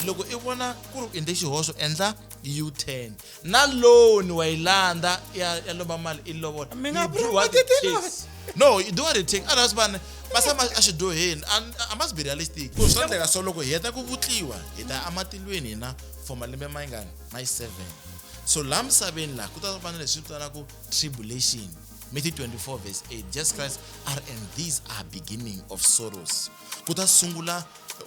loko i vona ku ri u endle xihoxo endla u-ten na loan wa yi landza ya ya lomba mali i lovola Mi nga You do what it promote takes. no you do what it takes otherwise vanhu va tshama exidyoheni And- i must be realistic ku swi endleka so loko hi heta ku vutliwa hi ta ematilweni hina for malembe ma yingani ma yi seven so laha misaveni laha ku ta va na leswi vitanaku tribulation Matthew 24 verse 8 Jesus Christ are and these are beginning of sorrows ku ta sungula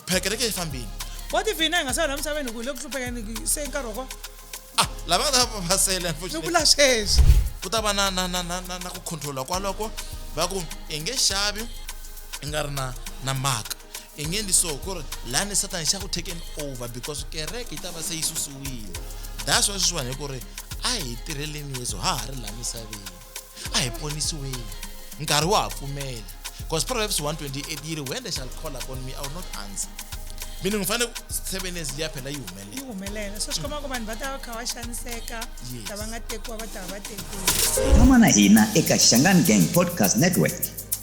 phela kereke yi fambile what if hina hi nga sala la misaveni ku le ku hluphekeni se nkarhi wa ah lava nga ta va sele ni vula sweswi ku ta va na na na na na ku controla kwaloko va ku i nge xavi i nga ri na na maka i nge endli so ku ri lani satani xa ku taken over because kereke yi ta va se yi susiwile that's why sweswiwani hi ku ri a hi tirheleni yesu ha ha ri laha misaveni a hi ponisiweni nkarhi wa ha pfumela because proverbs 128 yi ri when they shall call upon me i will not answer mina ngi fanele seven years liya phela yi humelela yi humelela so swi komba ku vanhu va ta va kha va xaniseka ta va nga tekiwa va ta va va tekiwa tshama na hina eka xangani gang podcast network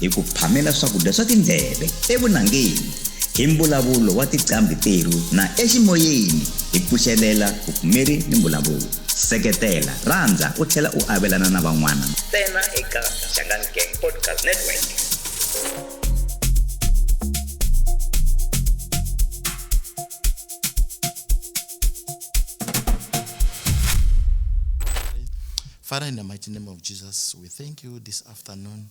hi ku phamela swakudya swa tindleve evunangeni hi mbulavulo wa tiqambhi terhu na eximoyeni hi pfuxelela vupfumeri ni mbulavulo seketela rhandza u tlhela u avelana na van'wana ntsena eka xangani gang podcast network Father, in the mighty name of Jesus, we thank you this afternoon.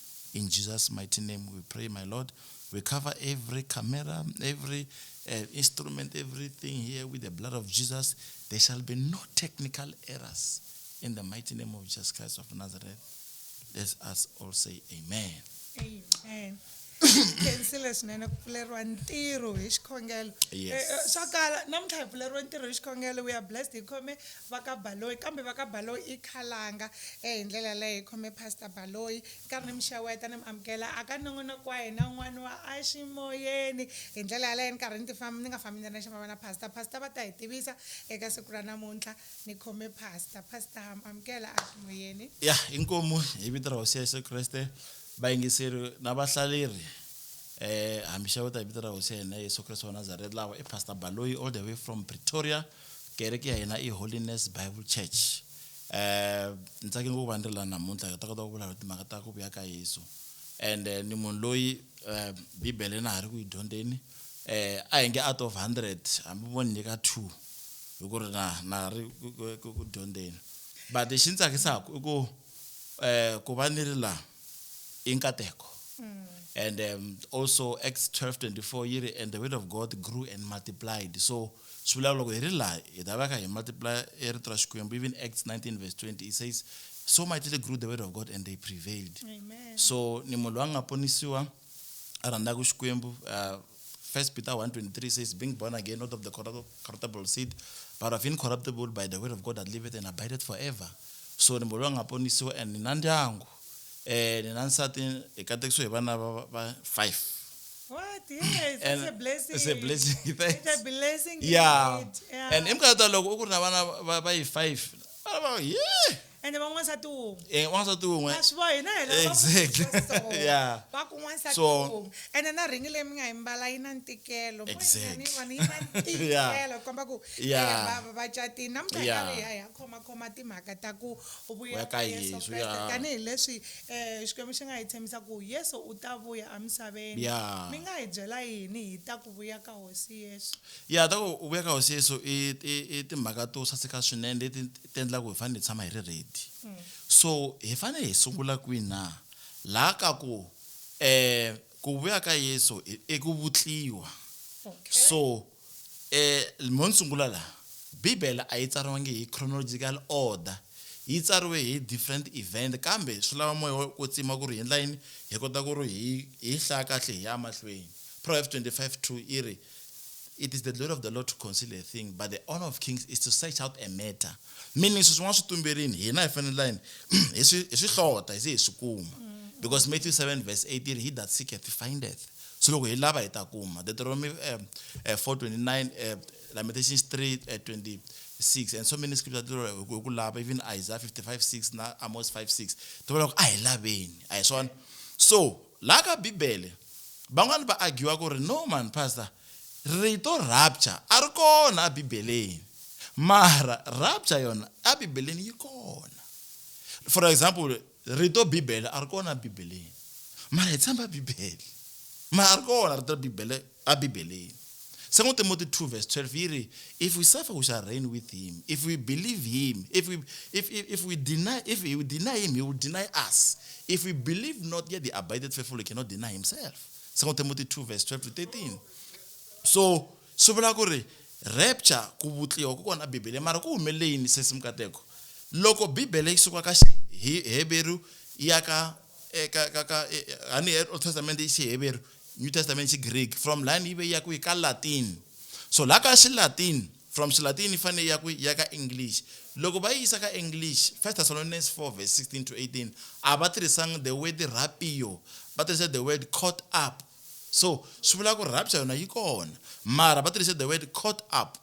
In Jesus' mighty name we pray, my Lord. We cover every camera, every uh, instrument, everything here with the blood of Jesus. There shall be no technical errors. In the mighty name of Jesus Christ of Nazareth, let us all say amen. Amen. khensile swinene ku pfuleriwa ntirho hi xikhongelo Yes. Eh, eh, swa kala namuntlha hi pfuleriwe ntirho hi xikhongelo we are blessed hi khome va ka Baloyi kambe va ka Baloyi i khalanga e hi ndlela yaleyo hi khome Pastor Baloyi ni karhi ni mi xeweta ni mi amukela a ka nongonoko wa hina wun'wana wa a ximoyeni hi ndlela yaleyo ni karhi ni ti ni nga fambi ni ri nexe mi va na Pastor Pastor va ta hi tivisa eka siku ra namuntlha ni khome Pastor Pastor ha mi amukela a ximoyeni. Ya inkomu hi vito ra Hosi Yesu Kreste va yingiseri na va hlaleri ha mi xeweta hi vito ra Hosi ya hina Yesu Kreste wa Nazareth lawa i Pastor Baloyi all the way from Pretoria. Kereke ya hina i Holiness Bible Church. Ni tsake ngopfu ku va ni ri la namuntlha hi ta kota ku vulavula timhaka ta ku vuya ka Yesu and ni munhu loyi Bibele na ha ri ku yi dyondzeni a hi nge out of hundred hambi vo ni nyika two hi ku ri na na ha ri ku dyondzeni but lexi ni tsakisaku i ku ku va ni ri la. i nkateko and um, also acts 12 24 yi ri and the word of god grew and multiplied so swi vulaka loko hi ri laha hi ta veka hi multiply e rito ra xikwembu even acts 19 verse 20 it says so mightily grew the word of god and they prevailed Amen. so ni munhu loyi a nga ponisiwa a rhandzaka xikwembu uh, first peter 123 says being born again not of the corruptible seed but of incorruptible by the word of god that liveth and abideth forever so ni mbolo nga ponisiwa and ni na ndyangu um ni na nsati hi katekisiwe hi vana va five What? Yes, and it's a blessing. It's a blessing. Thanks. It's a blessing. Yeah. yeah. And imkata loko u ku ri na vana va yi five. Yeah. ende van'wansati wun'we eh, wansati wun'we a swi bohi na hina va ku Exactly. swi so. Yeah. va ku n'wansati So- wun'we ende na rhingi leyi mi nga yi mbala yi na ntikelo Exactly. Ni vona yi na Yeah. ntikelo ku komba ku Yeah. eya, va- va- va catini na muganga Yeah. leyi hayi ha khomakhoma timhaka ta ku Vuya vuya ka ka yesu Yesu, Kreste yeah. tanihileswi um xikwembu xi nga hi tshembisa ku yesu u ta vuya emisaveni Yeah. mi nga hi byela yini hi ta ku vuya ka hosi yesu ya ta ku u vuya ka hosi yesu i i- i timhaka to saseka swinene leti ti endla ku hi fanele hi tshama hi ri ready so hi fanele hi sungula kwini na laha ka ku um eh, ku vuya ka yesu i ku vutliwa so um mo ni sungula laha bibele a yi tsariwangi hi chronological order yi tsariwe hi different event kambe swi lava moya ku tsima ku ri hi endla yini hi kota ku ri hi hi hlaya kahle hi ya mahlweni proverbs 25 2 yi ri It is the glory of the Lord to conceal a thing, but the honor of kings is to search out a matter. Meaning, sweswi n'wana swi tumberini hina hi fanele hi hi swi hlota hi ze hi swi kuma because Matthew 7 verse 18 he that seeketh findeth so loko hi lava hi ta kuma Deuteronomy um, uh, 429 uh, Lamentations 3 uh, 20 6 and so many scriptures to ku lava even Isaiah 55 6 na Amos 5 6 to vona ku a hi laveni a hi swona so Laha ka Bibele, van'wana va agiwa ku ri, No mhani Pastor, rito rapture a ri kona eBibeleni. Mara rapture yona eBibeleni yi kona. For example, rito Bibele a ri kona eBibeleni. Mara hi tshemba Bibele. Mara a ri kona rito Bibele. Ebibeleni, 2 Timothy 2 vs 12 yi ri, If we suffer, we shall reign with him, if we believe him, if we, if, if, if we deny, if we deny him, he will deny us. If we believe not, yet he abideth faithful, he cannot deny himself. 2 Timothy 2 vs 12 to 13. So, swi vula ku ri rapture ku vutliwa ku kona bibele mara ku humelele yini sesi mukateko loko bibele yi suka ka xiheberu ya ka eka ka ka a ni Old Testament i Xiheveru New Testament xi Greek from line yi ve yi ya kwihi ka Latin so la ka xi Latin from xi Latin yi fanele yi ya kwihi ya ka English loko va yi yisa ka English First Thessalonians 4 verse 16 to 18 a va tirhisanga the word rapio va tirhise the word caught up so swi vula ku rapture yona yi kona mara va tirhise the word caught up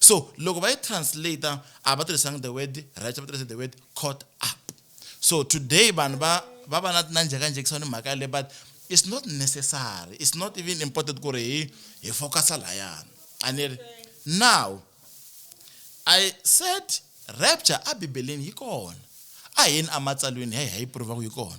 So loko va yi translater a va tirhisanga the word righteous va tirhise the word caught up. So today vanhu va va va na na njhekanjhekisa ni mhaka yaleyo but it's not necessary, it's not even important ku ri hi hi focus-a lahayana. A ni ri? Now I said rapture a Bibeleni yi kona. A hi yeni ematsalweni hi ya hi ya yi prove-a ku yi kona.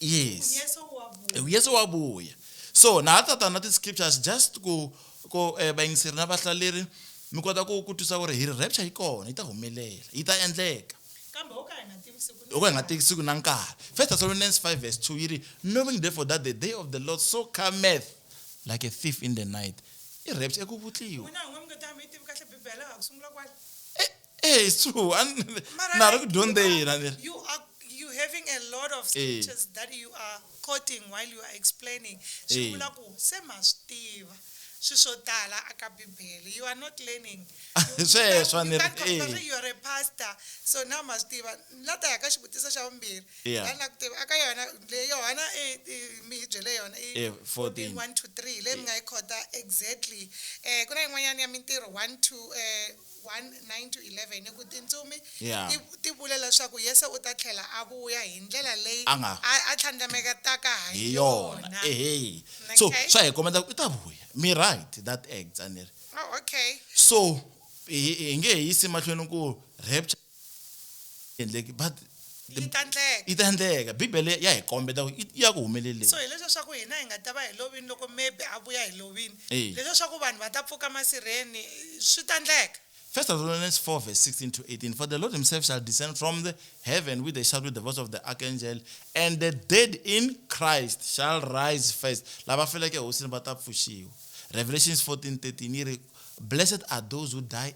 yes yesu wa vuya so na ha tata na ti-scriptures just ku ku eh, vayingiseri na vahlaleri mi kota ku ku twisa ku ri hi ri rapture yi kona yi ta humelela yi ta endleka kambe wo ka hi nga tivi siku loko hi nga teki siku na nkarhi first thessalonians 5 verse 2 yi ri knowing therefore that the day of the lord so cometh like a thief in the night i rapture eku vutliwa n'wina n'we mi nga ta mi yi tivi kahle bibele a ku sungula kwale Eh, it's true. And Mara, naro like, kudhondera you are- nere. You are you having a lot of Eh. scriptures that you are quoting while you are explaining. Swi Eh. vula ku se ma swi tiva swi swo tala aka Bibele. You are not learning. You- Sweswo you ni can't ri- compare, eh. You are a pastor. So now ma swi tiva. La ta ya ka xivutiso xa vumbirhi. Yeah. La na ku tiva aka yona le Yohana eh, eh, mi hi byele yona i Eh, 14. 1 to 3 leyi mi nga yi khota exactly. Eh ku na yin'wanyana ya mintirho 1 to eh 1, 9-11, ni ku tintsumi Yeah. ti, ti vule leswaku Yesu u ta tlhela a vuya hi ndlela leyi A nga- a, a tlhandlametaka ha hi yona yona. ehe so Okay. swa hi kombeta ku i ta vuya mi right that acts a ni ri Oh, okay. so hi hi nge he yisi mahlweni ku rapture endleki but yi ta ndleka yi ta endleka bibele ya hi kombeta ku yi- ya ku humeleleni so hileswi leswaku hina hi nga ta va hi lovini loko maybe a vuya hi lovini Eya. leswi leswaku vanhu va ta pfuka masirheni swi ta ndleka First Thessalonians 4, verse 16 to 18. For the Lord himself shall descend from the heaven with a shout with the voice of the archangel, and the dead in Christ shall rise first. Lava feleke ehosini va ta pfuxiwa. Revelations 14, 13 yi ri, Blessed are those who die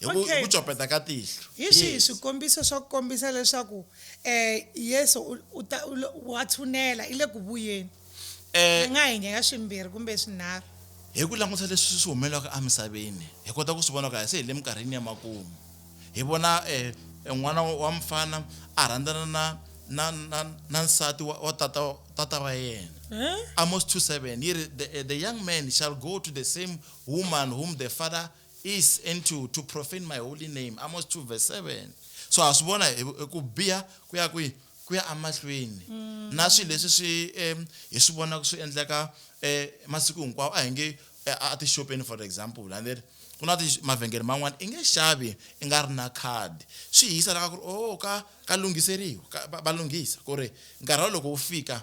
hi ku Okay. hi ku copeta ka tihlo hi swihi Yes. swikombiso swa ku kombisa leswaku um yesu u- u ta- u lo- wa tshunela i le ku vuyeni Eh, hi nga hi nghena swimbirhi kumbe swinharhu hi ku languta leswi swi humelelaka emisaveni hi kota ku swi vona ku a se hi le minkarhini ya makumu hi vona eh, eh, n'wana wa mfana a rhandzana na na na, na nsati wa, wa tata, tata wa yena Eh? amos 27 yi ri the, eh, the young man shall go to the same woman whom the father is and to, to profane my holy name amos 2 verse 7 so ha swi vona ku biha ku ya kwihi ku ya amahlweni mm. na swilo leswi swi um hi swi vonaka swi endleka um masiku hinkwawo a hi nge eh, a tixopeni for example landeri ku na mavhengele man'wana i nge xavi i nga ri na khadi swi hisa laka ku ri o oh, ka ka lunghiseriwa va lunghisa ku ri nkarhi wa loko wu fika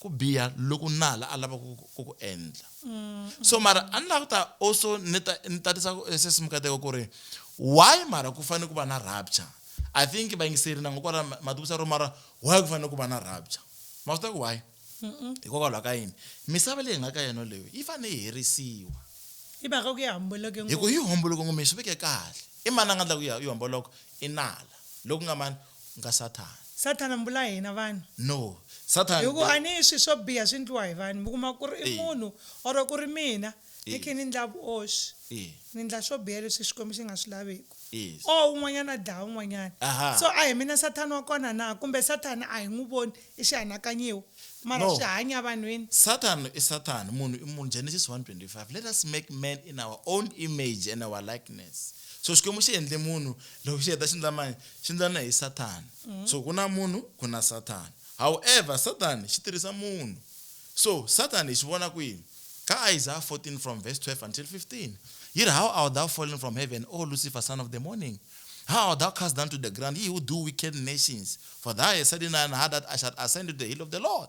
ku biha loku nala a lava ku ku ku endla so mara a ni lava ku ta also ni ta ni tatisa ku eh, sesi mukateko ku ri why mara ku fanele ku va na rapture i think vayingiseri na ngokwala matikusa ro mara why ku fanele ku va na rapture ma swi tiva ku why hikokwalaho ka yini misava leyi hi nga ka yona leyo yi fanele yi herisiwa hi mhaka ku yi hamboloke hi ku yi homboloke ngome hi swi veke kahle i mani a nga endla ku yi yi homboloka i nala loku nga mani Nga Sathana. Sathana mbula hina vanhu. No. Sathana. Hiku a ni swi swo biha swi ndliwa hi vanhu. Mi kuma ku ri i munhu or ku ri mina ni khi ni ndla vuoswi. Ni ndla swo biha leswi Xikwembu xi nga swi laviku. Or un'wanyana a dlaya un'wanyana. So a hi mina Sathana wa kona na? Kumbe Sathana a hi n'wi voni, i xihanakanyiwa. Mara swi hanya evanhwini. Sathana i Sathana, munhu i munhu, Genesis 1:25, Let us make man in our own image and our likeness. So Xikwembu xi endle munhu, loko xi heta xi ndla mani? xi ndlana hi sathana mm. so ku na munhu ku na sathana however sathana xi tirhisa munhu so sathana hi xi vona kwini ka isaiah 14 from verse 12 until 15 yi ri how art thou fallen from heaven o lucifer son of the morning how art thou cast down to the ground ye who do wicked nations for thou hast said in thine heart that i shall ascend to the hill of the lord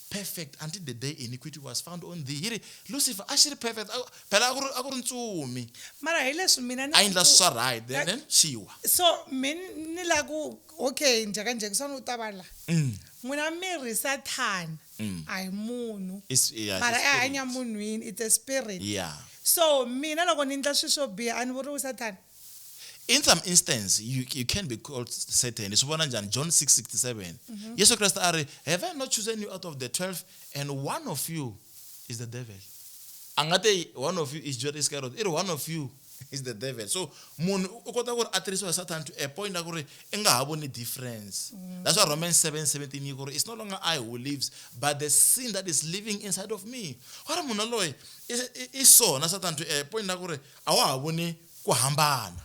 perfect until the day iniquity was found on thee hi ri lucifer a xi ri perfect a- phela a ku ri- a ku ri ntsumi mara hi leswi mina ni a yi endla swi swa right then then xi wa so min ni la ku okay njhekanjheka swa ni u ta va la Mm. n'wina mirhi sathana Mm. a hi munhu It's- yeah, it's mara a i spirit. hanya munhwini it's a spirit yeah so mina loko ni endla swilo swo biha a ni vuriwi sathana in some instance you, you can be called satan swi vona njhani john 667 mm-hmm. yesu kreste a ri have i not chosen you out of the 12 and one of you is the devil a nga te one of you is judas iscariot i ri one of you is the devil so munhu u kota ku ri a tirhisiwa hi satan to a point a ku ri i nga ha voni difference mm. that's why romans 7 17 yi ku ri it's no longer i who lives but the sin that is living inside of me wa ri munhu loyi i so na satan to a point a ku ri a wa ha voni ku hambana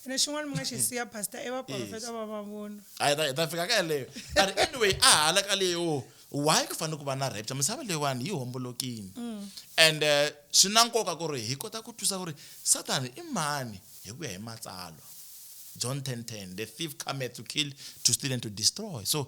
ene xin'wana mi nga xi siya pastor i vaprofeta va mavunwa a hi ta fika ka yeleyo a ri anyway a hala ka leyo why ku fanele ku va na rapture misava leyiwani yi hombolokini mm. and eh, swi na nkoka ku ri hi kota ku twisa ku ri satani i mani hi ku ya hi matsalwa john 10 10 the thief cometh to kill to steal and to destroy so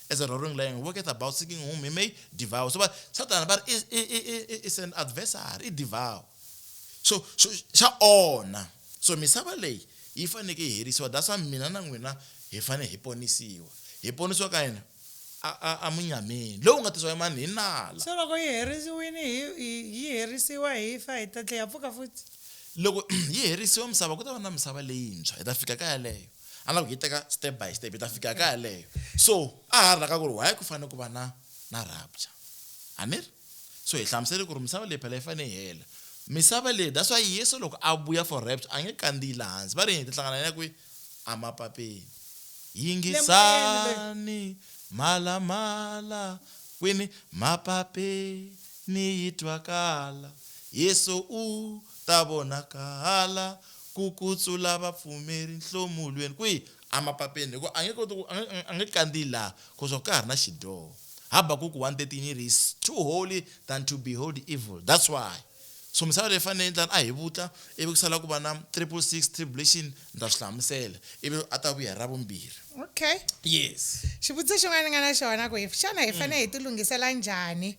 as a roaring lion walketh about seeking whom he may devour so but sathana va ri is an adversary i devour so so xa onha so misava leyi yi faneke yi herisiwa that's why mina na n'wina hi fanele hi ponisiwa hi ponisiwa ka yini amunyameni lowu nga tisiwa mani hi nala so loko yi herisiwile yi herisiwa hi fa hi ta tlhe ya pfuka futhi loko yi herisiwa misava ku ta va na misava leyintshwa hi ta fika ka yaleyo a lava ku yi teka step by step hi ta fika ka yaleyo so a ha ri laka ku ri why ku fanele ku va na na rapture a ni ri so hi hlamusele ku ri misava leyi phela yi fanele yi hela misava leyi that's why yesu loko a vuya for rapture a nge kandziyi laha hansi va ri hi ti hlangana ya kwihi emapapeni yingisani mhalamhala kwini mapapeni yi twakala yesu u ta vonakala Ku kutsula vapfumeri nhlomulweni kwihi? Emapapeni, hikuva a nge koti ku, a nge, a nge kandziyi laha, hikuva ka ha ri na xidyoho. Habakuku 1:13 yi ri, He's too holy than to behold evil. That's why. So misava leyi fanele yi ndlala a hi vutla, ivi ku sala ku va na triple six, tribulation, ni ta swi hlamusela, ivi a ta vuya hi Ravumbirhi. Okay. Yes. Xivutiso xin'wana ni nga na xona ku, xana hi fanele hi tilunghisela njhani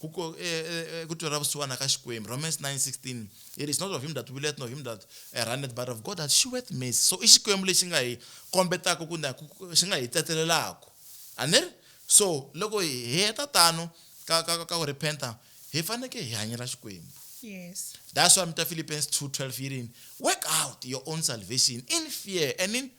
Ku ku e, e, e, ku twela vusiwana ka Xikwembu. Romans 9:16. It is not of him that willeth nor him that eh, runneth but of God that sheweth mercy. So i Xikwembu lexi nga hi kombetaka ku na xi nga hi tsetelelaka. A ni ri? So loko hi heta tano ka ka ka ku repenta hi faneke hi hanyela Xikwembu. Yes. That's why mita Philippians 2:12 yi rini? Work out your own salvation in fear and in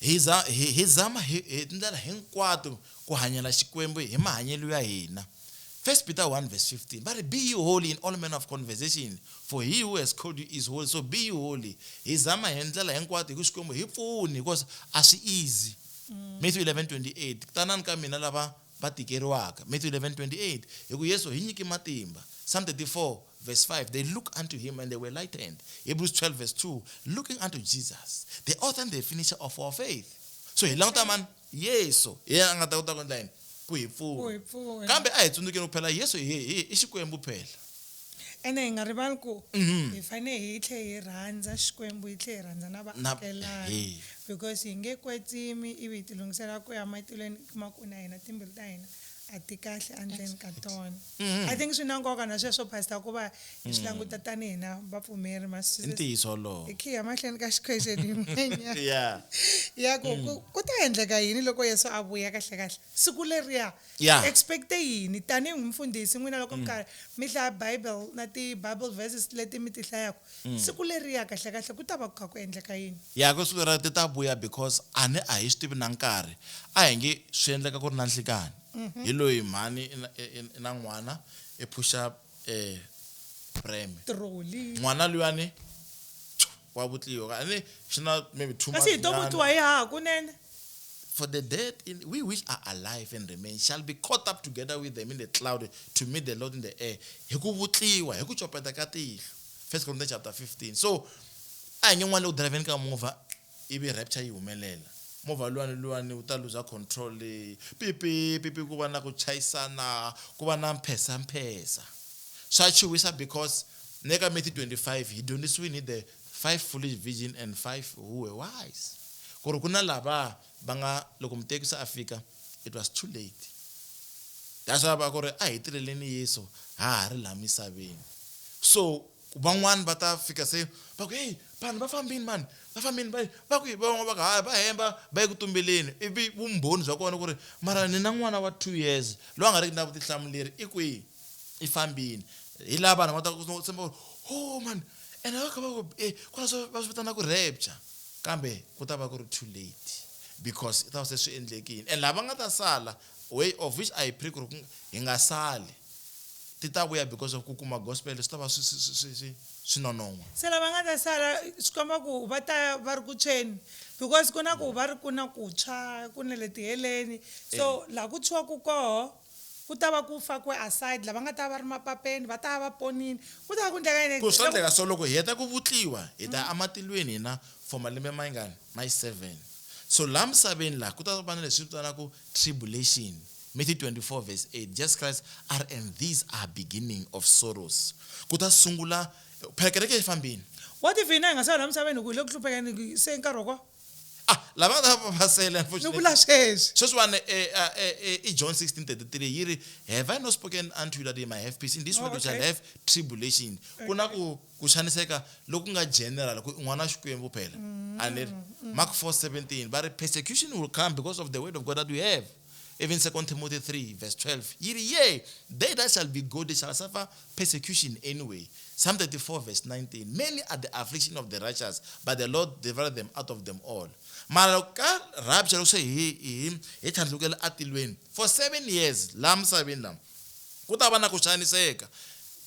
Hi za hi, hi zama hi, hi tindlela hinkwato ku hanyela Xikwembu hi mahanyelo ya hina. 1 Peter 1 verse 15 va ri, Be ye holy in all manner of conversation, for he who has called you is holy, so be ye holy. Hi zama hi ndlela hinkwato hi ku Xikwembu hi pfuni because a swi easy. Matthew 11:28 Tanani ka mina lava va tikeriwaka, Matthew 11:28, hi ku Yesu hi nyiki matimba, Psalm 34 verse 5, They look unto him and they were lightened, Hebrews 12 verse 2, Looking unto Jesus, the author and the finisher of our faith. So hi languta mani? Yesu, hi yena a nga ta kota ku endla yini? Ku hi pfuna. Kambe a hi tsundzukeni ku phela Yesu i Xikwembu phela. Ene hi nga rivali ku Mhm. hi fanele hi tlhe hi rhandza Xikwembu hi tlhe hi rhandza na Na- vaakelani ehe. because hi nge kwetsimi ivi hi tilunghisela ku ya matilweni hi kuma ku na hina timbilu ta hina a ti kahle endzeni ka tona Mhm. i think swi na nkoka na sweswo pastor ku va hi swi languta tanihi na vapfumeri ma i ntiyiso wolowo hi khiya mahlweni ka xikhwexeni yin'wanyana ya ya ku ku- ku ta endleka yini loko yesu a vuya kahlekahle siku leriya Yeah. I expect yini tanihi mfundhisi n'wina loko mi mm. karhi mi hlaya bible na ti-bible verses leti mi ti hlayaka mm. siku leriya kahlekahle ku ta va ku kha ku endleka yini ya ku siku leriya ti ta vuya because a ni a hi swi tivi na nkarhi a hi nge swi endleka ku ri na nhlikani mhm. hi loyi mhani i na n'wana i phuxa um eh, breme n'wana luyani wa vutliwa and xi na maybe two kasi hi to vutliwa hi haha kunene for the dead in, we which are alive and remain shall be caught up together with them in the cloud to meet the lord in the air hi ku vutliwa hi ku copeta ka tihlo first corinthians chapter 15 so a hi nge n'wana leyi driveni ka movha ivi rapture yi humelela movha luwani luwani wu ta luza control leyi pipi pipi ku va na ku chayisana ku va na mphesa mphesa swa chuwisa because Ni le ka Matthew 25 hi dyondzisiwini hi the five foolish virgin and five who were wise ku ri ku na lava va nga loko muteki se a fika it was too late that's why va ku ri a hi tirheleni yesu ha ha ri laha misaveni so van'wani va ta fika se va ku heyi vanhu va fambini mani va fambini va va ku van'wana va ku hayi va hemba va yi ku tumbeleni ivi vumbhoni bya kona ku ri mara ni na n'wana wa two years loyi a nga riki na vutihlamuleri i kwihi yi fambini hi laha vanhu va ta ku tshemba ku ho oh, mani ene va kha va ku e kona swi va swi vitana ku rapture kambe ku ta va ku ri too late because i ta va se swi endlekile and lava nga ta sala way of which i pray ku ri hi nga sali ti ta vuya because of ku kuma gospel swi ta va swi swi swi swi swi nonon'wa se lava nga ta sala swi komba ku va ta va ri ku tshweni because ku na ku va ri ku na ku tshwa ku na le tiheleni so eh. laha ku tshwaku koho Ku ta va ku fakiwe aside lava nga ta va va ri mapapeni, va ta va va ponile. Ku ta va ku endleka yini? Ku swa endleka swo, loko hi heta ku vutliwa, hi ta ya ematilweni hina for malembe mangani? Mai seven. So laha misaveni laha, ku ta va na leswi hi swi vitanaka tribulation. Matthew 24 verse 8, Jesus Christ a ri, And these are beginning of sorrows. Ku ta sungula, phela kereke a yi fambile. What if hina hi nga se va laha misaveni hi ku hi le ku hluphekeni, se i nkarhi wa kona? ah lava nga ta va va pasele ni unfortunately vula sweswi sweswiwani eh, ah, eh, eh, i john 1633 yi ri have i not spoken unto you that ye might have peace in this Oh, world you shall okay. have tribulation ku na ku ku xaniseka loku nga general ku i n'wana wa xikwembu phela Mm, a ni ri mark 4 17 va ri persecution will come because of the word of god that we have Even Second Timothy 3 verse 12 yiri yea they that shall be godly shall suffer persecution anyway. Psalm 34 verse 19 many are the affliction of the righteous but the Lord deliver them out of them all. Mara ka rapture loko se hi hi hi tlhandlukela atilweni for seven years la misaveni la ku ta va na ku xaniseka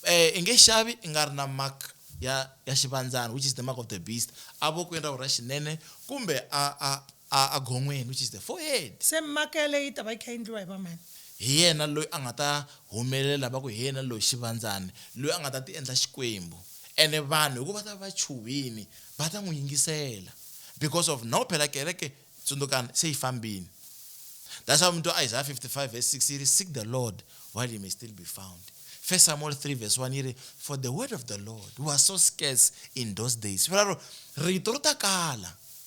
eh i nge xavi i nga ri na mark ya ya xivandzana which is the mark of the beast avokweni ra ra xinene kumbe a a a a gonweni, which is the forehead. Se mhaka yaleyo yi ta va yi kha yi endliwa hi va mani? Hi yena loyi a nga ta humelela va ku hi yena loyi xivandzani, loyi a nga ta ti endla Xikwembu. Ene vanhu hi ku va ta va va chuhile va ta n'wi yingisela because of now phela kereke, tsundzukani, se yi fambile. That's why mi twa Isaiah 55 verse 6 yi ri, Seek the Lord while he may still be found. First Samuel 3 verse 1 yi ri, For the word of the Lord was so scarce in those days. Swi vula ro, rito ri ta kala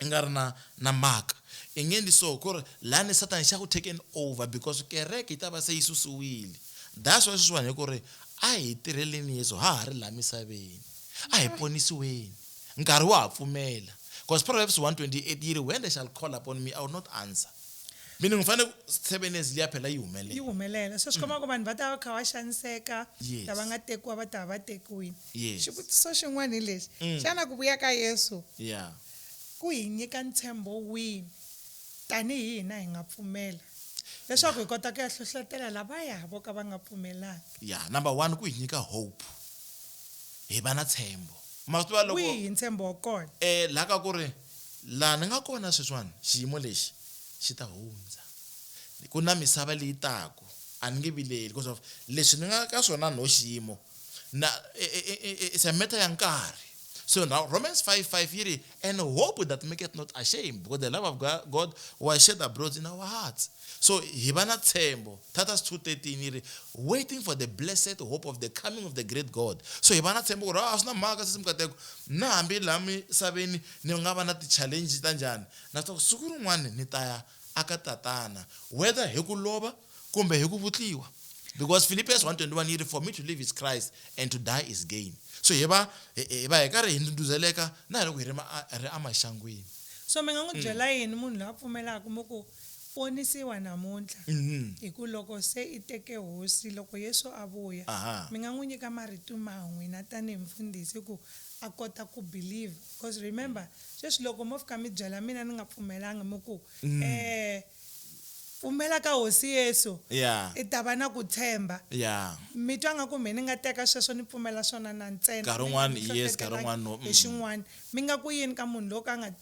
I nga ri na, na mhaka. I nge endli so, ku ri, Lani Sathana xa ku taken over, because kereke yi ta va se yi susiwile. That's why sweswiwani hi ku ri, A hi tirheleni Yesu ha ha ri laha misaveni. A hi ponisiweni. Nkarhi wa ha pfumela. Because Proverbs 1:28 yi ri, When they shall call upon me, I will not answer. mina ngifane seven years liya phela yi humelela yi humelela so swi komba ku vanhu va ta va kha va xaniseka Yes. lava nga tekiwa va ta va va tekiwile Yes. xivutiso xin'wana hi lexi Mm. xana ku vuya ka yesu ya ku hi nyika ntshembo wihi tanihi hina hi nga pfumela leswaku hi kota ku ya hlohlotela lavaya vo ka va nga pfumelanga ya number one ku hi nyika hope hi va na tshembo ma swi tiva loko wihi ntshembo wa kona eh la ka ku ri Laha ni nga kona sweswiwani, xiyimo lexi xi ta hundza. Ku na misava leyi taku. A ni nge vileli, because of leswi ni nga ka swona nho xiyimo na, i, i, i, i, it's a matter ya nkarhi. So now Romans five five yi ri, And hope that maketh not ashamed, because the love of God was shed abroad in our hearts. So hi va na tshembo, Titus 2:13 yi ri, Waiting for the blessed hope of the coming of the great God. So hi va na tshembo ku ri, a swi na mhaka sesi mikateko, na hambi laha misaveni ni nga va na ti-challenge ta njhani, na swi tiva ku siku rin'wani ni ta ya aka Tatana, whether hi ku lova kumbe hi ku vutliwa. Because Philippians 1:21 yi ri, For me to live is Christ and to die is gain. So hi va hi va hi karhi hi ndhundhuzeleka na hi loko hi ri ri amaxangwini. So mi nga n'wi byela yini munhu loyi a pfumelaka mi ku. ponisiwa namuntlha, hi ku loko se i teke Hosi, loko Yesu a vuya, mi nga n'wi nyika marito ma n'wina tanihi mufundhisi ku a kota ku believe. Because remember, sweswi loko mo fika mi byela mina ni nga pfumelanga mi ku, Eh, pfumela ka Hosi Yesu, i ta va na ku tshemba. Mi twa nga ku mehe ni nga teka sweswo ni pfumela swona na ntsena, ni nga mi hlohletelanga hi xin'wana. Mi nga ku yini ka munhu lowo ka a nga.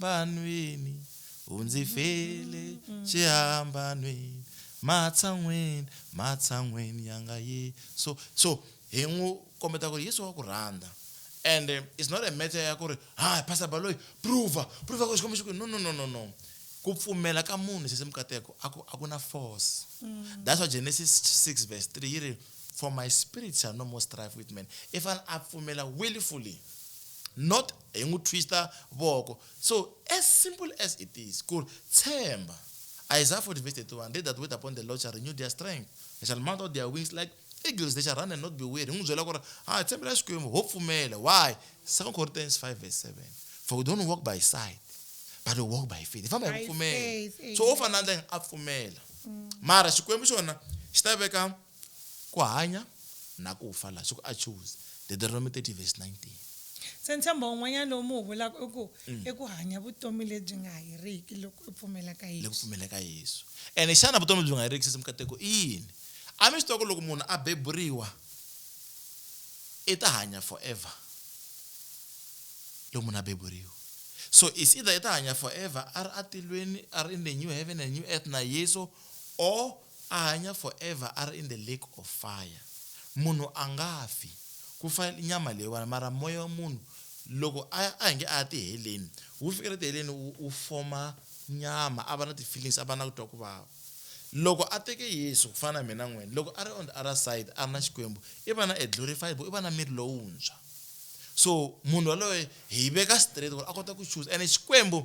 vanhwini u ndzi fele xihambanweni matshan'weni matshan'weni ya nga ye so so hi n'wi kombeta ku ri yesu wa ku rhandza and it's not a matter ya ku ri ha pastor baloyi prova prova ku xikwembu xi ku no no no no no ku pfumela ka munhu sese mukateko a ku a ku na force mm. that's why genesis 6 verse 3 yi ri for my spirit shall no more strive with man if an a pfumela willfully not hi n'wi twista voko so as simple as it is ku ri tshemba Isaiah 40 verse 31 they that wait upon the Lord shall renew their strength they shall mount out their wings like eagles they shall run and not be weary hi n'wi byela ku ri ha ah, tshembela xikwembu ho pfumela why 2 Corinthians 5 verse 7 for we don't walk by sight but we walk by faith hi famba hi ku pfumela so wo fana na ndla a pfumela mm. mara xikwembu xona xi ta veka Ku hanya na ku fa laha swi ku a chuze. Deteronomi 30 vesi 19. Se ntshembo un'wanyana lowu mi wu vulaka i ku, i ku hanya vutomi lebyi nga heriki loko i pfumela ka Loko u Yesu. pfumela ka Yesu. Ene xana vutomi lebyi nga heriki, sesi mikateko, i yini? A mi swi tiva ku loko munhu a beburiwa, i ta hanya forever? Loko munhu a beburiwa. So it's either i ta hanya forever a ri atilweni, a ri in the new heaven and new earth na Yesu or A hanya forever a ri in the lake of fire. Munhu a nga fi, ku fa nyama leyiwana mara moya wa munhu loko a ya a hi nge a ya tiheleni, wu fikela tiheleni wu wu foma nyama a va na ti-feelings a va na ku twa ku vava. Loko a teke Yesu ku fana na mina na n'wina, loko a ri on the other side a ri na Xikwembu i va na a glorified body, i va na miri lowuntshwa. So munhu yaloye hi veka straight ku ri a kota ku chuza ene Xikwembu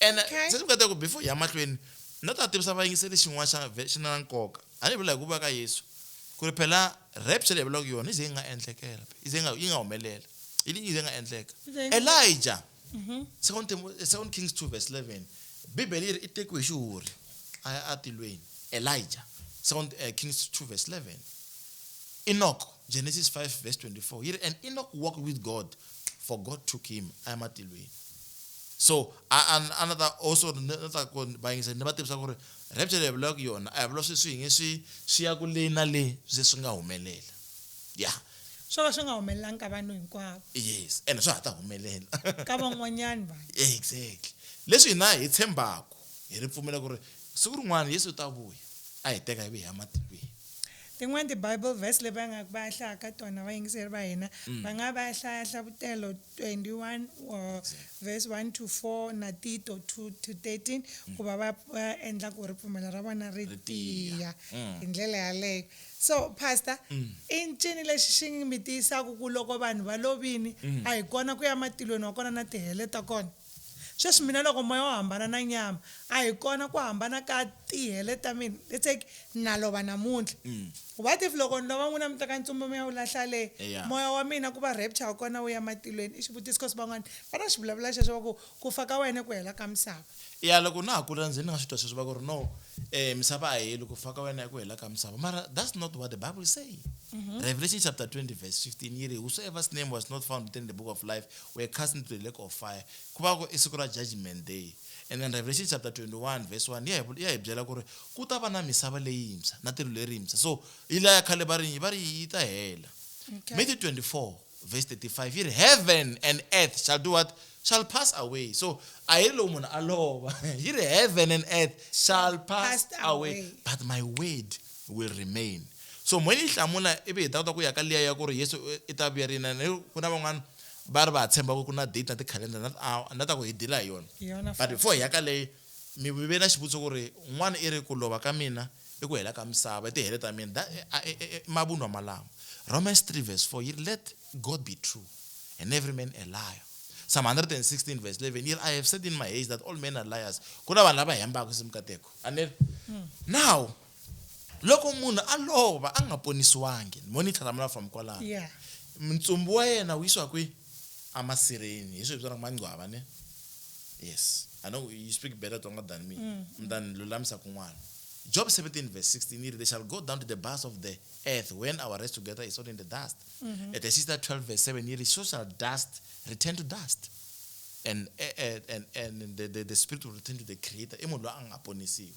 And Okay. se ni nga ta ku before hi ya mahlweni na ta tivisa vayingiseli xin'wana xa ve- xi na na nkoka a ni vula hi ku vuya ka yesu ku ri phela rapture leyi hi vulaka yona yi ze yi nga endlekela yi ze yi nga yi nga humelela yi yi ze yi nga endleka Yi ze yi nga- elija second, Timo- eh, second kings 2 verse 11 bibele yi ri i tekiwe hi xiwuri a ya atilweni elija second eh, kings 2 verse 11 Enoch, Genesis 5, verse 24. Here, and Enoch walked with God, for God took him. I am at Elohim. So, a, a, a ni ta also ni ta ku va yingisa ni va tivisa ku ri rapture leyi hi vulaka yona a hi vula swi swi yingi swi swi ya ku le na le swi ze swi nga humelela ya. Swo va swi nga humelelanga ka vanhu hinkwavo. Yes, ene swa ha ta humelela. Ka van'wanyani vanhu. Exactly. Leswi hina hi tshembaku hi ripfumelo ku ri siku rin'wana Yesu u ta vuya a hi teka hi ve hi ya matikwini. Tin'wana ti-Bible verse leti va nga va ya hlaya ka tona vayingiseri va hina mm. va nga va ya hlaya Hlavutelo 21 uh, verse 1 to 4 na Tito 2 to 13 mm. ku va va endla ku ripfumelo ra vona ri tiya mm. hi ndlela yaleyo so pastor mm. i ncini lexi xi mi tiyisaku ku loko vanhu va lovini mm. a hi kona ku ya matilweni wa kona na tihele ta kona Sweswi mina loko moya wu hambana na nyama, a hi kona ku hambana ka tihele ta mina. Let's take na lova namuntlha. What if loko ni lova n'wina mi teka ntsumbu mi ya wu lahla le? Yeah. Moya wa mina ku va rapture wa kona wu ya matilweni? I xivutiso coz van'wana va na xivulavula xexo va ku, ku fa ka wena i ku hela ka misava. Yeah, loko na ha kula ndzi ni nga swi twa sweswo va ku ri no eh misava a yi heli, ku fa ka wena i ku hela ka misava. Mara that's not what the Bible is saying. Revelation chapter 20 verse 15 yi ri, Whosoever's name was not found written in the book of life We're cast into the lake of fire. Ku va ku i siku ra judgment day. And then Revelation chapter 21 verse 1 ya hi ya hi byela ku ri ku ta va na misava leyintshwa na tilo lerintshwa. So yi la ya khale va ri va ri yi ta hela. Okay. Matthew 24 verse 35 yi ri heaven and earth shall do what? Shall pass away. So a yi ri loko munhu a lova yi ri heaven and earth shall pass Passed away away. but my word will remain. So mhani yi hlamula ivi hi ta kota ku ya ka liya ya ku ri Yesu i ta vuya rini and ku na van'wana va ri va ha tshemba ku ku na date na ti-calendar na ti-hour ni ta ku hi deal-a hi yona Hi yona but futhi. before hi ya ka leyi mi ve na xivutiso ku ri n'wana i ri ku lova ka mina i ku hela ka misava i tihele ta mina That- a- e- e- e- i mavunwa malamo Romans 3 verse 4 yi ri let God be true and every man a liar Psalm 116 verse 11 yi ri I have said in my haste that all men are liars ku na vanhu lava hembaka se mikateko a ni ri now Loko munhu a lova a nga ponisiwangi, monitor ra mina from kwalano, Yeah. ntsumbu wa yena wu yisiwa kwi? Amasirheni, hi swi hi vitanaka mangcwava ne? Yes, I know you speak better Tsonga than me, mi ta ni lulamisa kun'wana. Job 17 verse 16 yi ri, They shall go down to the bowels of the earth when our rest together is all in the dust. mm -hmm. at exista 12 verse 7 yiri so shall dust return to dust and, and, and, and the, the, the spirit will return to the creator i munhu loyi a nga ponisiwa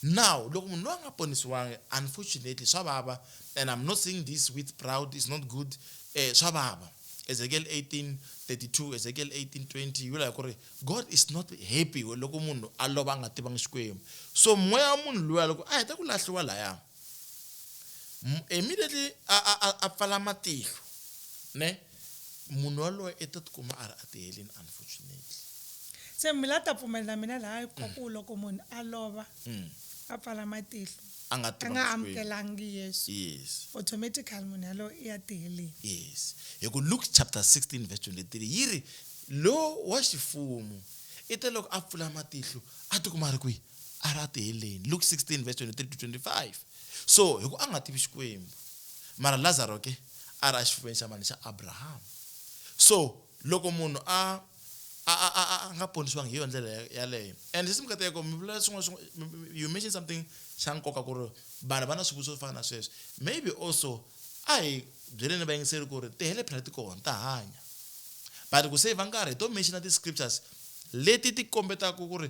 now loko munhu loyi a nga ponisiwangi unfortunately swa vava and i'm not saying this with proud is not good eh, swa vava ezekiel 18 32 ezekiel 18 20 yi vula hi ku ri god is not happy loko munhu a lova a nga tivangi xikwembu so moya wa munhu luya loko a heta ku lahliwa laya M- immediately a a a, a pfala matihlo ne munhu waloye i ta tikuma a ri a tihelini unfortunately se mi la ta pfumela na mina laha ku ku loko munhu a lova mm. a pfala matihlo a nga a tiva nga Xikwembu. amukelangi yesu yes automatically munhu yalowo i ya tiheleni yes hi ku luke chapter 16 verse 23 yi ri lowo wa xifumu i te loko a pfula matihlo a tikuma a ri kwihi a ra ti heleni luke 16 verse 23 to 25 so hi ku a nga tivi xikwembu mara lazaro ke a ra xifuveni xa mani xa abrahama so loko munhu a a a a a nga ponisiwangi hi yo ndlela yaleyo and sesi mikateko mi vulela swin'wana swin'wana you mention something xa nkoka ku ri vanhu va na swivutiso swo fana na sweswi maybe also a hi byeleni vayingiseri ku ri ti hele phela ti kona ta hanya but ku save nkarhi hi to mention ti-scriptures leti ti kombetaka ku ri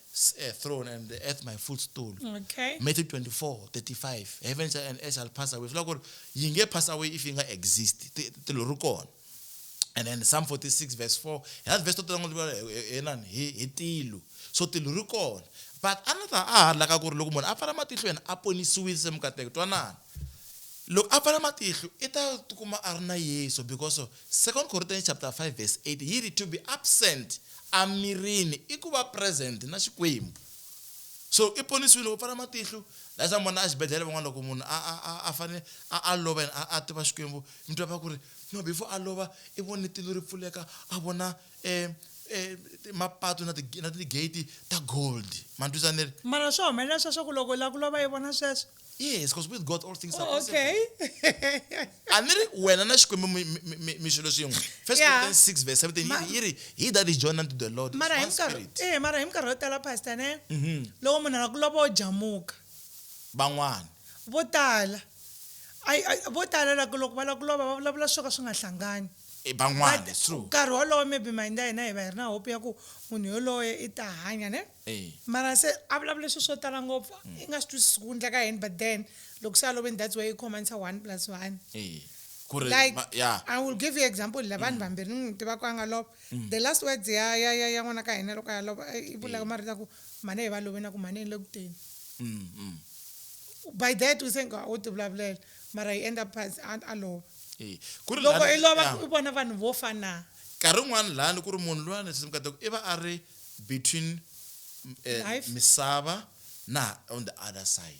s- a throne and the earth my footstool okay matthew 24 35 heaven shall- and earth shall pass away swi vula ku ri yi nge pass away if yi nga exist ti- ti lo ri kona and then psalm 46 verse 4 hi na verse to tala ngopfu hi- hi- hi nani? hi hi tilo so tilo ri kona but a ni ta a ha ri laka ku ri loko munhu a pfala matihlo yena a ponisiwile se mukateko twanana loko a pfala matihlo i ta tikuma a ri na yesu because of Second Corinthians chapter 5 verse 8 yi ri, To be absent a mirini i ku va present na Xikwembu. So i ponisiwile, u pfala matihlo. That's why mi vona exibedhlele van'wana loko munhu a a a a fane a a lova and a a tiva Xikwembu mi twa va ku ri no before a lova i vone tilo ri pfuleka a vona mapatu na ti na ti gate ta gold. Ma ni twisa ni ri. Mara swa humelela sweswo ku loko u lava ku lova i vona sweswo? yes because with god all things are oh, okay a ni ri wena na xikwembu mi swilo swin'we first corinthians 6 verse 17 yi ri he that is joined unto the lord mara hi minkarhi eh mara hi minkarhi yo tala pastor ne mhm. loko munhu a ku lova o jamuka van'wana vo tala vo tala loko loko va lava ku lova va vulavula swo ka swi nga hlangani eh, van'wana nkarhi wolowo maybe mayindza hina hi va hi ri na hope ya ku munhu yoloye i ta hanya ne Mara se a vulavule swilo swo tala ngopfu i nga swi twisisi ku endleka yini but then loko se a lovini that's why i khomanisa one plus one like i will give you example la vanhu vambirhi ni n'wi tivaka a nga lova the last words ya ya ya ya n'wana ka hina loko a ya lova i vulaka marito ya ku mhani hi va loveni a ku mhani hi le ku teni by that u se nga u ti vulavulela mara he end up past a a lova loko i lova i vona vanhu vo fana nkarhi wun'wana lani ku ri munhu lwani se mi kota ku i va a ri between eh, Life. misava na on the other side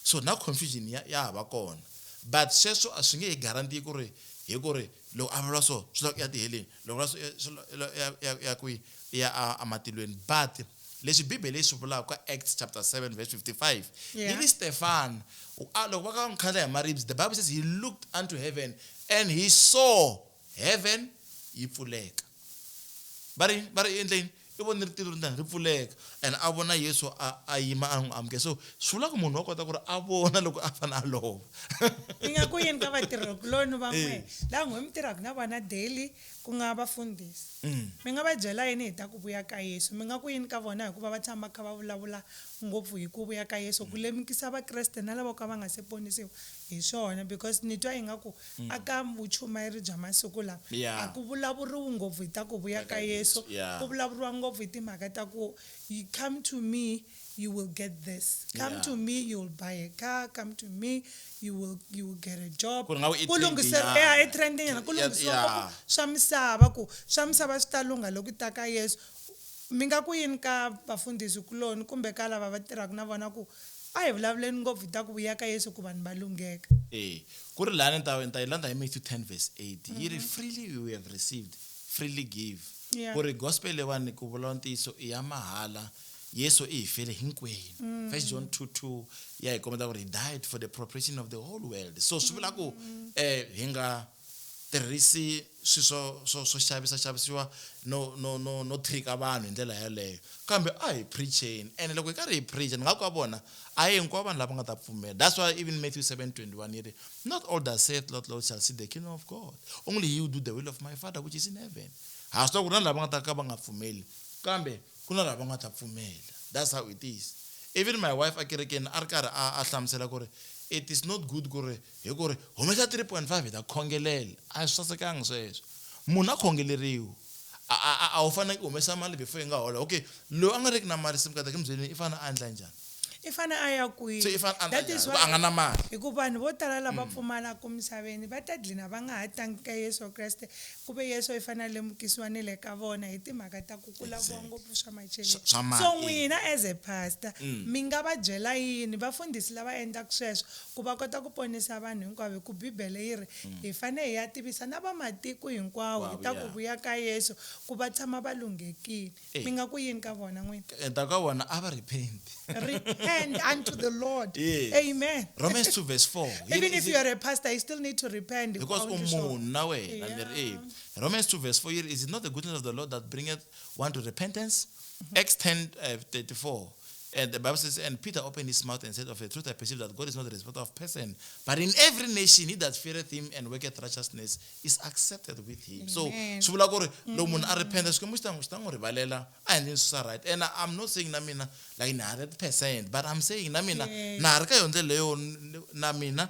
so na confusion ya ya ha va kona but sweswo a swi nge hi guarantee ku ri hi ku ri loko a vula so swi lava ku ya tiheleni loko vula so eh, swi la- la- ya- ya- ya kwihi I ya a- ematilweni but leswi bibele yi swi vulaka ka acts chapter 7 verse 55 Yeah. yi ri stefan u- a- loko va ka va n'wi khandla hi maribye the bible says he looked unto heaven and he saw Heaven yi pfuleka. Va ri yini? Va ri endle yini? I vone ritilo ri ri pfuleka and a vona Yesu a a yima a n'wi amukela. So swi vula ku munhu wa kota ku ri a vona loko a fane a lova. Hi nga ku yini ka vatirhikuloni van'we lava n'we mi tirhaka na vona daily ku nga vafundhisi? Mi nga va byela yini hi ta ku vuya ka Yesu? Mi nga ku yini ka vona hikuva va tshama va kha va vulavula ngopfu hi ku vuya ka Yesu, ku lemukisa Vakreste na lavo ka va nga se ponisiwa Hi swona because ni twa ingaku a ka vuchumayeri bya masiku lawa Yeah. a ku vulavuriwi ngopfu hi ta ku vuya ka Yesu, Yeah. ku vulavuriwa ngopfu hi timhaka ta ku yi come to me you will get this, come Yeah. to me you will buy a car, come to me you will you will get a job. Ku ri nga ku i Ku lunghiseri- trend-nyana. yeah, i trend-nyana. Ku Yeah, lunghisiwa yeah. ngopfu swa misava ku swa misava swi ta lungha loko ta ka Yesu. Mi nga ku yini ka vafundhisi kuloni kumbe ka lava va tirhaka na vona ku A hi vulavuleni ngopfu hi ta ku vuya ka Yesu ku vanhu va lungheka. E Ku ri lani ni ta ni ta yi landza hi Matthew 10 verse 8 yi ri, Freely you have received, freely give. Yeah. Ku ri gospel leyiwani ku vulavula ntiyiso i ya mahala, Yesu i hi fele hinkwenu. First John 2, 2 ya hi kombeta ku ri he died for the propitiation of the whole world. So swi vula ku eh hi nga. tirhisi swi swo swo swo xavisa xavisiwa no no no no trika vanhu hi ndlela yaleyo kambe a hi preacheni ene loko hi karhi hi preacha ni nga ku ka vona a hi hinkwavo vanhu lava nga ta pfumela that's why even Matthew 7:21 yi ri not all that saith Lord Lord shall see the kingdom of God only he who do the will of my father which is in heaven ha swi tiva ku ri na lava nga ta ka va nga pfumeli kambe ku na lava nga ta pfumela that's how it is even my wife a kerekeni a ri karhi a a hlamusela ku ri it is not good ku ri Hi ku ri, Humesa 3.5 hi ta khongelela. A swi sasekanga sweswo. Munhu a khongeleriwa. A, a, a, a wu fanelanga i humesa mali before i nga hola. Okay, loyi a nga riki na mali se mukadhaki mi byeleni i fanele a endla njhani? I fanele a ya kwihi? Se i fanele a endla njhani hikuva a nga na mali? Hi ku vanhu vo tala lava pfumalaka misaveni va ta dlina va nga ha tangi ka Yesu Kreste, ku ve Yesu i fanele a lemukisiwa ni le ka vona hi timhaka ta ku ku laviwa ngopfu swa macheleni. Swa mali. So n'wina as a pastor mi nga va byela yini vafundhisi lava endlaka sweswo Ku va kota ku ponisa vanhu hinkwavo, hi ku Bibele yi ri, Hi fanele hi ya tivisa na va matiko hinkwawo hi ta ku vuya ka Yesu, ku va tshama va lunghekile. Mi nga ku yini ka vona n'wina? Hi ta ku ka vona, A va repent. Repent unto the Lord. Amen. Romans 2 verse 4. Even if you are a pastor, you still need to repent. Because u munhu na wena, mi ri e. Romans 2 verse 4 yi ri, Is it not the goodness of the Lord that bringeth one to repentance? Acts 10 uh, 34 And the Bible says, And Peter opened his mouth and said, Of a truth I perceive that God is not a respecter of person, but in every nation he that feareth him and worketh righteousness is accepted with him. So Amen. swi vula ku ri loko munhu a repenta xikwembu xi ta xi ta n'wi rivalela a endleni swi swa right and i'm not saying na mina like ni hundred percent but i'm saying na mina na ha ri ka yo ndlela leyo n- na mina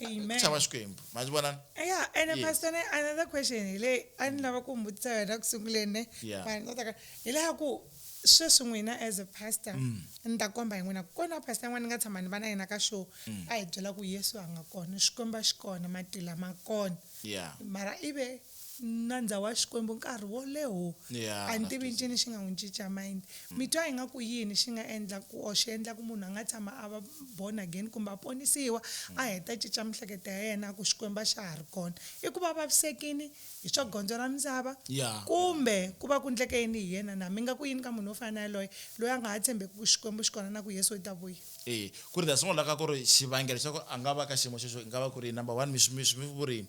Amen. ku chava xikwembu ma swi vona Yeah, and Yes. pastor ne another question hi leyi a ni lava ku mi vutisa yona ku sunguleni ne Yeah. mara ni ta taka- hi leya ku sweswi n'wina as a pastor Mm. ni ta komba hi n'wina ku kona pastor yin'wana ni nga tshama ni va na yena ka show Mm. a hi byela ku yesu a nga kona xikwembu a xi kona matila ma kona ya mara ive nandza wa Xikwembu nkarhi wo leho. Yeah, A ni tivi ncini xi nga n'wi cinca mind. Mi twa ingaku yini xi nga endla ku or xi endla ku munhu a nga tshama a va born again kumbe a ponisiwa a heta a cinca mihleketo ya yena a ku Xikwembu a xa ha ri kona? I ku va a vavisekini hi swa gondzo ra misava Yeah. kumbe ku va ku ndleke yini hi yena na? Mi nga ku yini ka munhu wo fana na yaloye loyi a nga ha tshembeki ku Xikwembu xi kona na ku Yesu i ta vuya? E, ku ri ta sungula ka ku ri xivangelo xa ku a nga va ka xiyimo xexo i nga va ku ri yini? Number one, mi swi mi swi vuri yini?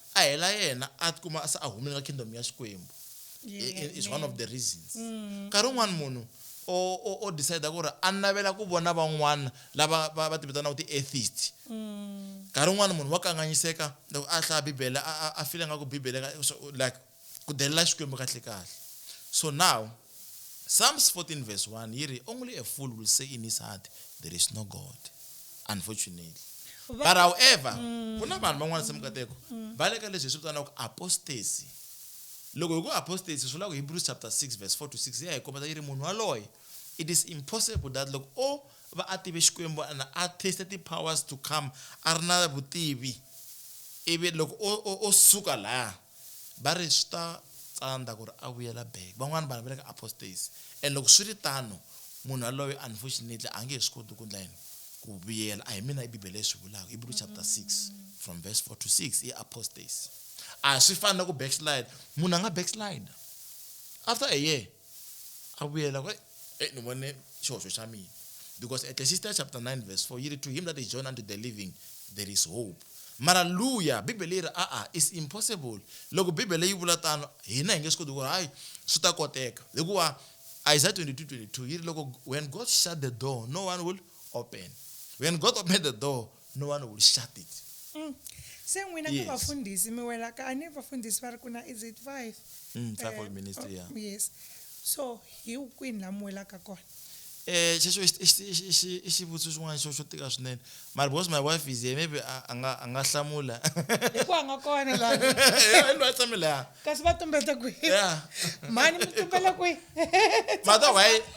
a hela yena a tikuma se a humile ka kingdom ya xikwembu I- is one of the reasons nkarhi wun'wana munhu o o- o decide ku ri a navela ku vona van'wana lava va va ti vitanaka ti-atheist nkarhi wun'wana munhu wa kanganyiseka loko a hlaya bibele a a- a fila nga ku bibele ka- so- like Ku delela Xikwembu kahle-kahle. So now, Psalms 14 verse 1 yi ri, Only a fool will say in his heart, There is no God. Unfortunately. Va- But however, ku na vanhu van'wana se mukateko va le ka leswi hi swi vitanaka apostasy. Loko hi ku apostasy swi vula ku Hebrews chapter 6 verse 4 to 6 ya hi kombeta yi ri munhu waloye it is impossible that loko o va a tive Xikwembu and a taste ti-powers to come a ri na vutivi ivi loko o, o, o suka laya Va ri, Swi ta tsandza ku ri a vuyela back. Van'wana vanhu va le ka apostasy. And loko swi ri tano, munhu yaloye unfortunately a nge he swi koti ku endla yini? Ku vuyela. A hi mina i Bibele yi swi vulaka, Hebrew chapter 6 from verse 4 to 6, i apostasy. A swi fani na ku backslide. Munhu a nga backslide after a year. a vuyela ku e ni vone xihoxo xa mina because eklesista chapter 9 verse 4 yi ri to him that is joined unto the living there is hope mara luya bibele yi ri a-a is impossible loko bibele yi vula tano hina hi nge swi koti ku hayi swi ta koteka hikuva isaiah 22 22 yi ri loko when god shut the door no one will open when god open the door no one will shut it mm. se n'wina yes. ka vafundhisi mi wela ka a ni vafundhisi va ri ku na is it five mm, five uh, ministry oh, yeah. yes so hi kwini la mi welaka kona eh xexo i xivutiso xin'wana xo xo tika swinene mara because my wife is here maybe a nga a nga hlamula hikuva a nga kona la lo a tshame la kasi va tumbeta kwihi mhani mi tumbela kwihi mata why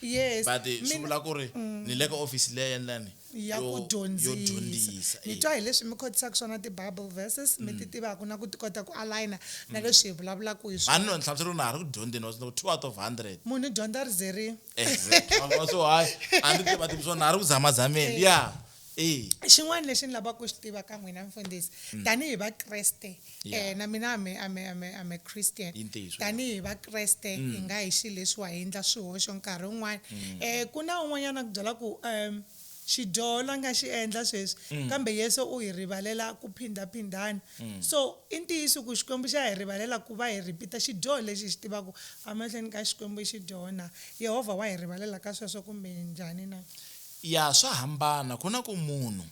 Yes, but eh, swi vula ku ri mm. ni le ka office leya endlani ya ku dyondzisa ni twa hi leswi mi khotisaka swona ti-bible verses mi ti mm. tivaka na ku ti kota ku aligna na mm. leswi hi vulavulaka hi swani no ni hlamusela ku na ha ri ku dyondzeni wa ku two out of hundred munhu dyondza ri zerile so hayi a ni tiva tivi swona na ha ri ku zamazameni ya xin'wana lexi ni lavaka ku xi tiva ka n'wina mfundhisi mm. tanihi vakreste eh, na mina am a christian tanihi vakreste mm. hi nga hi xi leswiwa hi endla swihoxo nkarhi wun'wana um mm. eh, ku na un'wanyana ku byela ku um xidyoho la nga xi endla sweswi mm. kambe yesu u hi rivalela ku phindaphindana mm. so i ntiyiso ku xikwembu xa hi rivalela ku va hi ripita xidyoho lexi hi xi tivaka emahlweni ka xikwembu i xidyoho na yehovha wa hi rivalela ka sweswo kumbe njhani na Ya swa hambana ku na ku munhu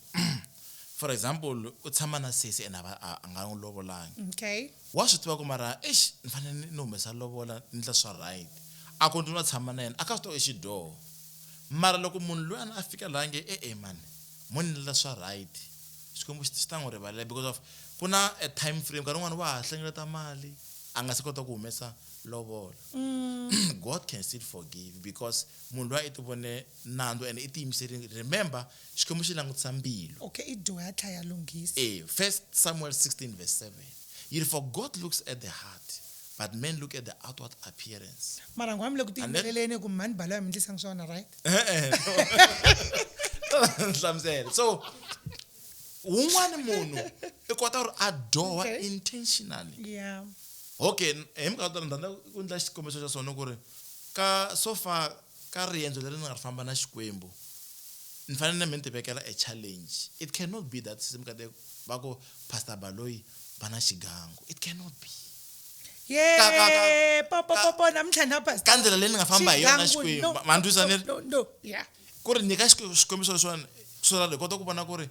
for example u tshama na sesi and a a nga n'wi lovolangi Okay. wa swi tiva ku mara eish ni fanele ni ni humesa lovola ni endla swa right a ku ni wa tshama na yena a ka swi tiva i xidyoho mara loko munhu luyani a fika laha a nge e-e mani mo ni endlela swa right Xikwembu xi xi ta n'wi rivalela because of ku na a time frame nkarhi wun'wani wa ha hlengeleta mali a nga se kota ku humesa lovola God can still forgive because munhu luya i ti vone nandzu and i tiyimiserile remember xikwembu xi langutisa mbilu okay i dyoha tlha ya lunghisa e first samuel 16 verse 7 yi ri for god looks at the heart but men look at the outward appearance mara ngwa mi le ku tiyimeleleni ku mhani balo ya mi ndlisanga swona right hlamusela so wun'wani munhu i kota ku ri a dyoha intentionally yeah okay hi minkarhi tala ndhandla ku endla xikombiso xa swona ku ri ka so far Ka riendzo leri ni nga ri famba na Xikwembu, ni fanele na mina ni ti vekela a challenge. It can not be that Sisi Mkade va ku Pastor Baloyi va na xigangu. It can not be. Ka- ka- ka- Yee, po, po, ka- po, po, namuntlha na Pastor. ka ndlela leyi ni nga famba hi yona na Xigangu, Xikwembu. no, Ma- ma ni twisisa no, ni ri? no, no, yeah. Ku ri nyika Xik- xikombiso leswiwani, so that hi kota ku vona ku ri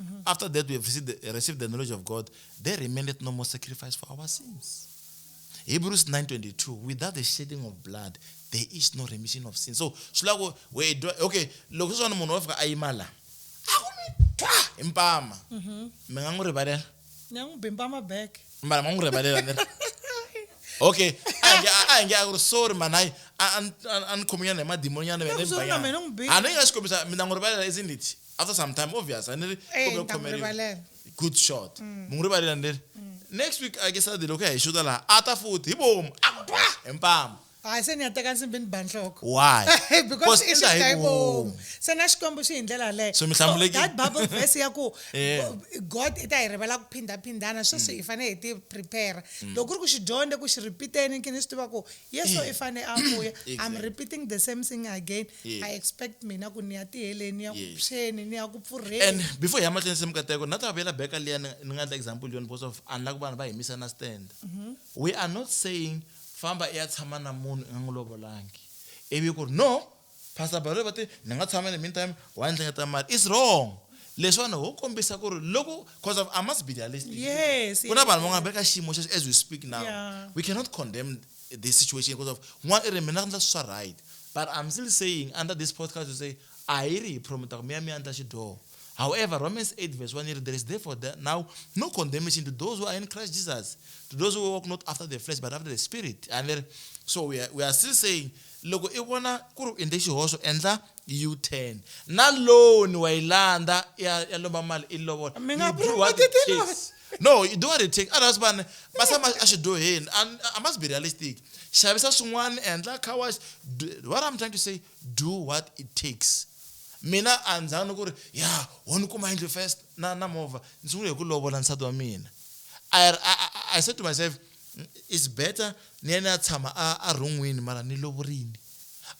Mm-hmm. After that, we have received the, received the knowledge of God. There remaineth no more sacrifice for our sins. Hebrews 9.22, without the shedding of blood, there is no remission of sin. So, shlako, we do, okay, loko swana munhu wa fika a yima la. A ku mi twa hi mpama. Mhm. Mi nga n'wi rivalela. Ni nga n'wi bimpama back. Mara mi nga n'wi rivalela ni Okay, a nge a nge a ku sorry man, hayi a a ni khominyana hi madimoninyana vene ni banyana. A ni nga swi kombisa mina n'wi rivalela isn't it? after some time obvious a ni ri Eh, kumbe ni ta n'wi khomeriwa. rivalela. good shot mu n'wi rivalela ni ri next week i guess adi loko ya hi xuta laha a ta futhi hi bomu a ku twa hi mpamu hayi se ni ya teka nsimbi ni ba nhloko why because i endla hi xigayibomu vomu. se na xikwembu xi hi ndlela yaleyo So mi hlamulekile. that bible verse ya ku Eh. god i ta hi rivala ku phindhaphindhana sweswi hi fanele hi ti prepare loko ku ri ku xi dyondze ku xi repeateni nkini swi tiva ku yeso i fanele a vuya i'm repeating the same thing again Yes. i expect mina ku ni ya tiheleni ni ya ku Yes. phyeni ni ya ku and pfurheni before hi ya mahlweni se mikateko na ta vuyela back ka liya ni ni nga endla example yona because of unlike ku vanhu va himisa na stand we are not saying famba i ya tshama na munhu i nga n'wi lovolangi ivi ku ri no pastor balo va te ni nga tshama in the meantime wa ndzi hleketa mali is wrong leswiwani ho kombisa ku ri loko because of i must be realistic Yes, ku na yes, vanhu van'wana va le ka xiyimo xexo as we speak now Yeah. we cannot condemn this situation because of n'wana i ri mina ndla swa right but i'm still saying under this podcast to say a yi ri hi promota ku mi ya mi ya ndla xidyoho However, Romans 8 verse 1 there is therefore there now no condemnation to those who are in Christ Jesus, to those who walk not after the flesh but after the spirit. And then, so we are, we are still saying, loko i vona ku ri endle xihoxo endla u-turn na loan wa yi landza ya lomba mali i lovola mi nga promote tin'anga No, you don't want to take others vanhu va tshama exidyoheni. And I must be realistic. Xavisa swin'wana, endla car wash. Do- What I'm trying to say, do what it takes. Mina a ndzi zanga ku ri ya ho ni kuma yindlu first na na movha ndzi sungule hi ku lovola nsati wa mina. I, I, I- I said to myself, "Mm, it's better ni ya ni ya tshama a a rhon'wini mara ni lovorile.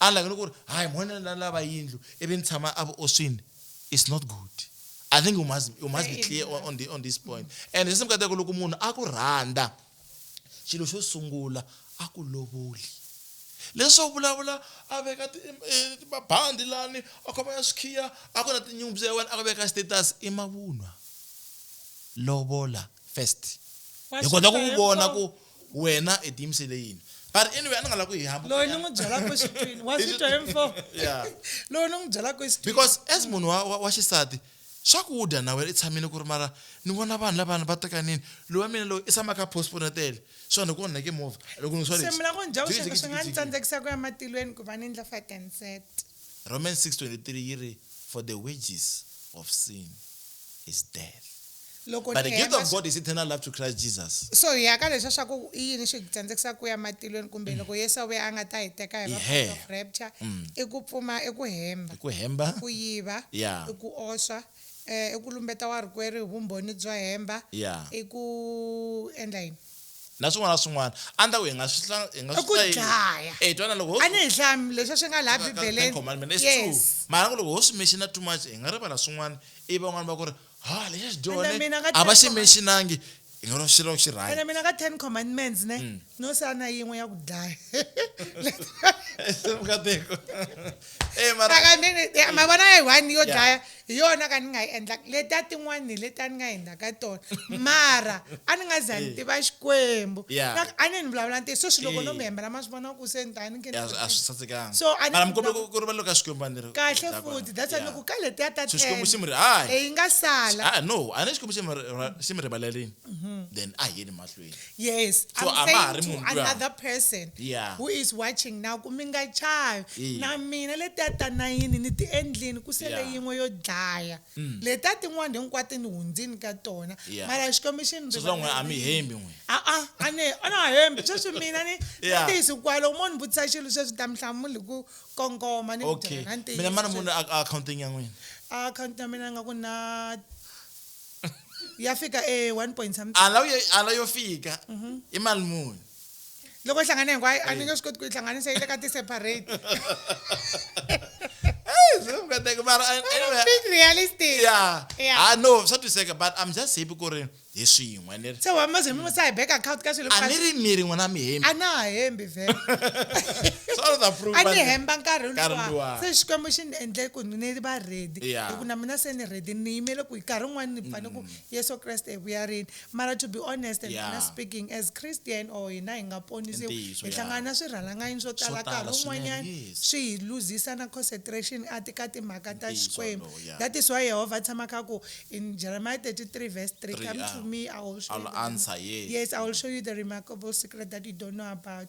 Unlike ni ku ri hayi mhona la lava yindlu ivi ni tshama a vuoswini. it's not good i think you must, you must be clear on, on, the, on this point and sesi mikateko loko munhu a ku rhandza xilo xo sungula a ku lovoli leswo vulavula a veka eh, mabandi lani a khoma ya swikhiya a ku na tinyumpfu ya wena a ku veka status i mavunwa lovola first hi kota ku vona ku wena i tiyimisele yini but anyway a ni nga la ku hi hambu loyi ni n'wi byelaka exitwini wa swi twa hi mfo Yeah. loyi ni n'wi byelaka exitwini because as munhu wa, wa, wa xisati swakudya na wena i tshamile ku ri mara ni vona vanhu lavana va tekanini loyi wa mina loyi i tshama kha postpone tele so ni ku onheke movha loko ni swa se leswi. mi lava ku ni byela ku Jiki, swilo jiki, swi nga ni jiki. tsandzekisa ku ya matilweni ku va ni endla fatenset Romans 6:23 yi ri, For the wages of sin is death, Loko but ni the gift hemba of swi- God is eternal life through Christ Jesus. So hi ya ka leswa swa ku i yini swi hi tsandzekisaka ku ya matilweni kumbe loko Yesu a vuya a nga ta hi teka hi va Ihe. part of rapture i ku pfuma i ku hemba Hi ku hemba, ku yiva Yeah. i ku oswa eh, i ku lumbeta warikwerhu hi vumbhoni byo hemba Yeah. i ku endla yini na swin'wana na swin'wana a ni ta ku hi nga swi hla- hi nga I swi ku hlayi- dlaya. Eh, twana loko ho a ni hi hlami leswi swi nga laha ka- ka- Ten bibeleni Commandment, it's true. yes mara ku loko ho swi menshina too much hi nga rivala swin'wana ivi van'wana va ku ri ha lexa xi dyone Ene mina ka a va Ten xi menshinangi hi nga ri xilo xi rhaya ene mina ka ten commandments ne Mm. no sana yin'we ya ku dlaya vukatiko e mara Aka nini- eh, mavona ya one yo Yeah. dlaya Hi yona ka ni nga yi endlaka. Letiya tin'wana hi leti a ni nga endlaka tona. Mara a ni nga za ni tiva Xikwembu. Yeah. Swa ku a ni ni vulavula ntiyiso, sweswi loko no mi hembela ma swi vona ku se ni ta ni khe ni Ya, a swi tsakile. sasekanga. So, a ni Mara mi kombela ku- ku rivaleriwa ka Xikwembu a ni ri- Kahle Hi ta kona. futhi, that's why ni Yeah. ku ka letiya ta So Xikwembu xi mi ri- hayi. ten, leyi nga sala. Ah, no, a ni Xikwembu xi mi ri- ra- xi mi rivalerile. Then a hi yeni mahlweni. Bibele. yes So, a i'm va ha ri saying to munhu luya. another person Yeah. who is watching now ku mi nga chavi Yeah. na mina letiya ta nayini ni ti endlini ku sele Yeah. Mm. yin'we yo dlaya letiya tin'wana hinkwato ni hundzini ka tona Yeah. mara xikwembu xi ni So swa n'we a mi rivarile. hembi n'we. a-a a ni a na ha hembi sweswi mina ni Yeah. ni tiyisi kwalo u mo ni vutisa xilo sweswi ta mi hlamuli hi ku kongoma ni ku okay byela na ntiyiso mina mana sweswi. munhu a- a akhawuntini ya n'wina akhawunti ya mina nga ku na ya fika e 1 point something ala yo ala yo fika i mali muni loko yi hlangane hinkwayo a ni nge swi koti ku yi hlanganisa yi le ka ti-separate Hey, so I'm gonna think about it. I'm Anyway, being realistic yeah. Yeah. Ah, no, swa twiseka but I'm just happy ku ri hi swin'we ni ri se wa maze mi musa hi bank account ka swilo a ni ri miri n'wina mi hembi a na ha hembi vhele Sorry, the fruit, a but- ni hemba nkarhi Nkarhi luwa luwa. se xikwembu xi ni endle ku ni va ready Hi Yeah. ku na mina se ni ready ni yimele ku hi nkarhi wun'wana ni fane ku yesu kreste hi vuya rini mara to be honest and Mm. Yeah. honest speaking as christian or hina hi nga ponisiwi Ntiyiso, hi yeah. hlangana na swirhalanganyini swo tala tala nkarhi swinene, wun'wanyana yes. swi hi luzisa na concentration a ti ka timhaka ta Ntiyiso xikwembu lowu, yeah. that is why yehovha a tshama kha ku in jeremiah 33 verse 3 Three, come ah, to me i will show I'll you the- answer, yes. yes i will show you the remarkable secret that you don't know about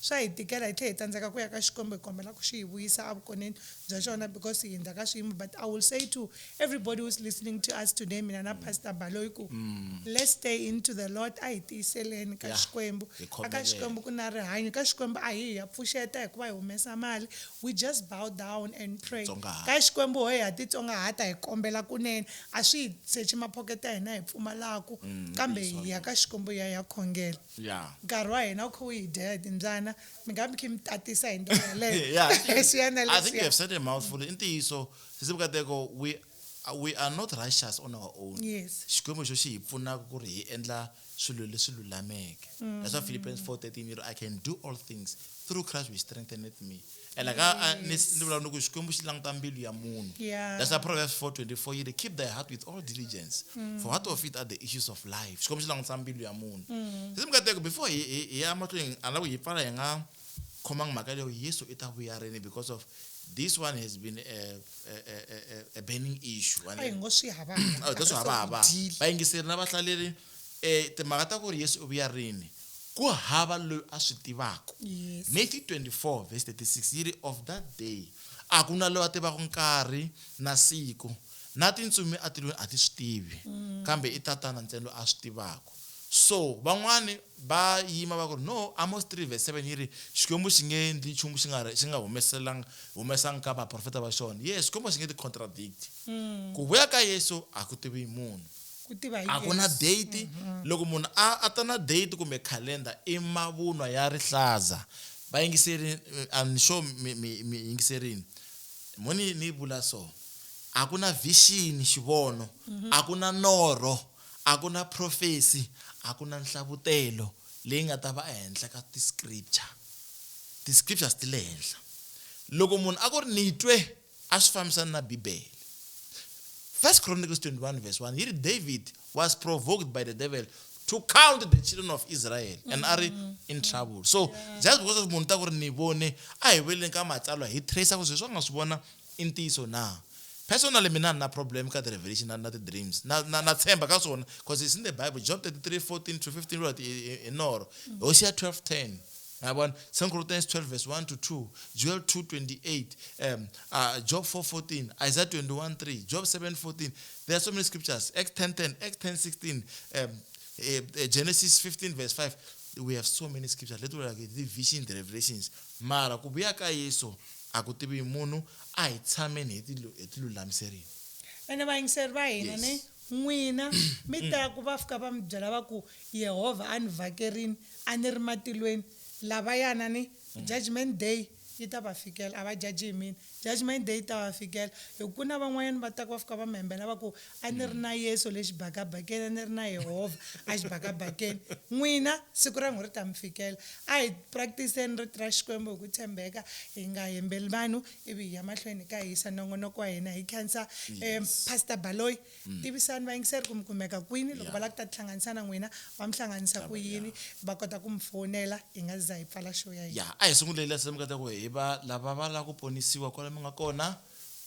Swa hi tikela hi tlhe hi tsandzeka ku ya ka Xikwembu hi kombela ku xi hi vuyisa a vukoneni bya xona because hi hundza ka swiyimo but I will say to everybody who's listening to us today mina na Pastor Baloyi ku let's stay in to the Lord a hi tiyiseleni ka Yeah. Xikwembu Hi a ka khomeleni. Xikwembu ku na rihanyo ka Xikwembu a hi hi ya pfuxeta hikuva hi humesa mali we just bow down and pray Tsongahata. ka Xikwembu hoye ha titsongahata hi kombela kunene a swi hi sechi maphoketa ya hina hi pfumalaku kambe hi ya ka Xikwembu hi ya hi ya khongela Yeah. nkarhi wa hina wu kha wu hi dya hi timbyana mi nga mi khe mi tatisa hi ndlela yeleyo yeah, I think, Leswiyana, I think you leswiya. have said a mouthful. In Tiso, Sisi Bukateko, we uh, we are not righteous on our own. Yes. Xikwembu xo xi hi pfunaka ku ri hi endla swilo leswi lulameke. That's why Philippians 4:13 yi ri I can do all things through Christ which strengtheneth me. and like yes. I, I, yeah. that's a proverbs 424 you keep thy heart with all diligence mm. for out of it are the issues of life xikwembu xi langutisa mbilu ya munhu mm. sisi mikateko before hi ya mahlweni a lava hi pfala hi nga khomanga mhaka leyo yesu i ta vuya rini because of this one has been a, a, a, a burning issue oh, that's hava hava vayingiseri na vahlaleri E timhaka ta ku ri Yesu u vuya rini ku hava loyi a swi tivaka. Yes. Matthew 24 verse 36 yi ri, Of that day a ku na loyi a tivaka nkarhi na siku, na tintsumi etilweni a ti swi tivi, kambe i Tatana ntsena loyi a swi tivaka. So van'wana va yima va ku ri, No, Amos 3 verse 7 yi ri, Xikwembu xi nge endli nchumu xi nga xi nga humeselanga humesanga ka vaprofeta va xona. Yes, Xikwembu a xi nge ti-contradict. Ku vuya ka Yesu a ku tiviwi hi munhu. Ku tiva hi A ku na Yesu. date. Loko munhu a a ta na date kumbe calendar i mavunwa ya rihlaza. Va yingiseri I'm sure mi mi mi yingiserini. Mo ni ni vula so, a ku na vision, xivono, a ku na norho, a ku na prophecy, a ku na nhlavutelo leyi nga ta va ehenhla ka ti-scripture. Ti-scriptures ti le henhla. Loko munhu a ku ri ni twe. a swi fambisani na Bibele. First Chronicles 21 verse 1 yi ri, David was provoked by the devil to count the children of Israel and a ri in trouble. So just because of munhu ta ku ri ni vone, a hi veleni ka matsalwa hi tracer ku swilo leswi a nga swi vona i ntiyiso na. Personally mina a ni na problem ka ti-revelation na na ti-dreams. Na na na tshemba ka swona because it's in the Bible, Job 33, 14 to 15 vuriwa ti i i norho, Hosea 12, 10. Niyabona? Second Corinthians 12 verse 1 to 2, Joel 2:28, um, uh, Job 4:14, Isaiah 21:3, Job 7:14. There are so many scriptures. Acts 10:10, Acts 10:16, um, uh, uh, Genesis 15 verse 5. We have so many scriptures. Let like the visions, the revelations. Mara kubuya ka Yesu akutivi munhu a hi tshameni hi tilulamiserini. Ene vayingiseri va hina ne n'wina mi ta ku va fika va mi byela va ku Yehovha a ni vakerini A ni ri matilweni, lavayana ni. Judgment Day yi ta va fikela. A va jaji hi mina. Judgment Day yi ta va fikela. Hi ku ku na van'wanyana va taka va fika va mi hembela va ku, A ni ri na Yesu le xibakabakeni, a ni ri na Yehovha exibakabakeni. N'wina, siku ra n'wina ri ta mi fikela. A hi practice-eni Rito ra Xikwembu hi ku tshembeka, hi nga hembeli vanhu ivi hi ya mahlweni hi kha hi yisa nongonoko wa hina. Hi khensa Pastor Baloyi. Tivisani vayingiseri ku mi kumeka kwini, loko va lava ku ta tihlanganisa na n'wina va mi hlanganisa ku yini, va kota ku mi fowunela hi nga si za hi pfala show ya hina. Ya, a hi sunguleni la se mi nga ta ku hi va lava va lava ku ponisiwa kwala mi nga kona,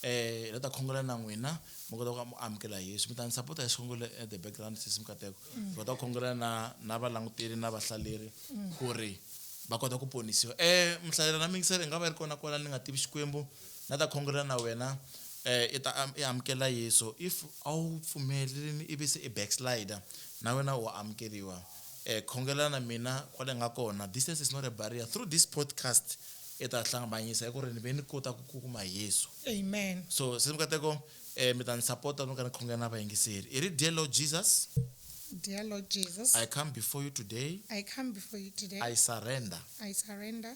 hi la ta khongela na n'wina mi kota ku va mi amukela Yesu. Mi ta ni sapota hi xikhongelo at the background sesi Nkateko, hi kota ku khongela na na valanguteri na vahlaleri ku ri va kota ku ponisiwa. Muhlaleri na muyingiseri i nga va i ri kona kwala ni nga tivi Xikwembu, Na ta khongela na wena eh i ta am i amukela Yesu if a wu pfumelelini ivi se i backslider na wena wa amukeriwa eh khongela na mina kwale nga kona distance is not a barrier through this podcast i ta hlangabanyisa hi ku ri ni ve ni kota ku ku kuma Yesu Amen. so se mikateko eh mi ta ni sapota loko ni khongela na vayingiseri i ri dear Lord Jesus Dear Lord Jesus, I come before you today I come before you today. I surrender I surrender.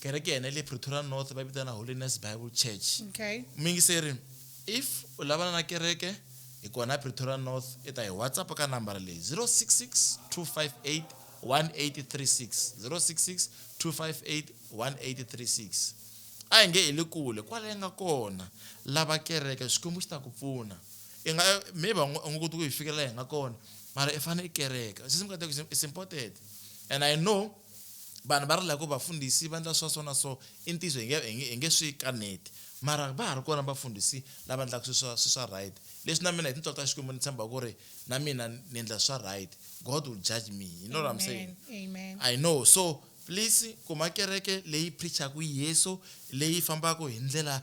kereke yena le pretoria north va vitana holiness bible church okay. muyingiseri if u lavana na kereke hi kona pretoria north i ta hi whatsapp ka nambara leyi 066 258 1836 066 258 1836 a hi nge i le kule kwala yi nga kona lava kereke xikwembu xi ta ku pfuna i nga maybe u nga koti ku yi fikelela hi nga kona mara i fanele i kereka sisi mukateko is important and i know vanhu va rila ku vafundhisi va ndla swa so na so i ntiyiso hi nge hi nge hi nge swi kaneti mara va ha ri kona vafundhisi lava ndlaku swi swa swi swa right leswi na mina hi tintswalo ta Xikwembu ni tshemba ku ri na mina ni ndla swa right God will judge me you know what I'm saying Amen. I know so please kuma kereke leyi preachaku Yesu leyi fambaku hi ndlela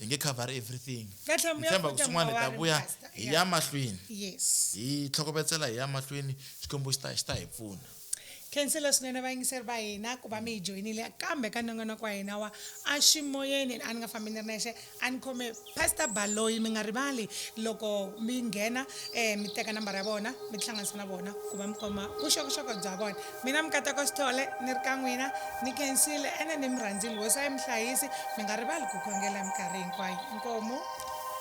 hi nge cover everything Ka tlhamo ya tshemba ku futa swin'wana hi ta mawari, vuya Pastor. hi Yeah. ya mahlweni yes hi tlhokovetsela hi ya mahlweni xikwembu xi ta xi ta hi pfuna khensela swinene vayingiseri va hina ku va mi hi joyinile kambe ka nongonoko wa hina wa a xi moyeni a ni nga fambi ni ri nexe a ni khome pastor baloyi mi nga rivali loko mi nghena um mi teka nambara ya vona mi tihlanganisa na vona ku va mi kuma vuxokoxoko bya vona Mina Mukateko Sithole, ni ri ka n'wina, ni khensile, ene ni mi rhandzile. Hosi a yi mi hlayisi, mi nga rivali ku khongela hi minkarhi hinkwayo. Inkomu.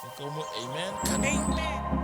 Inkomu, Amen. Amen.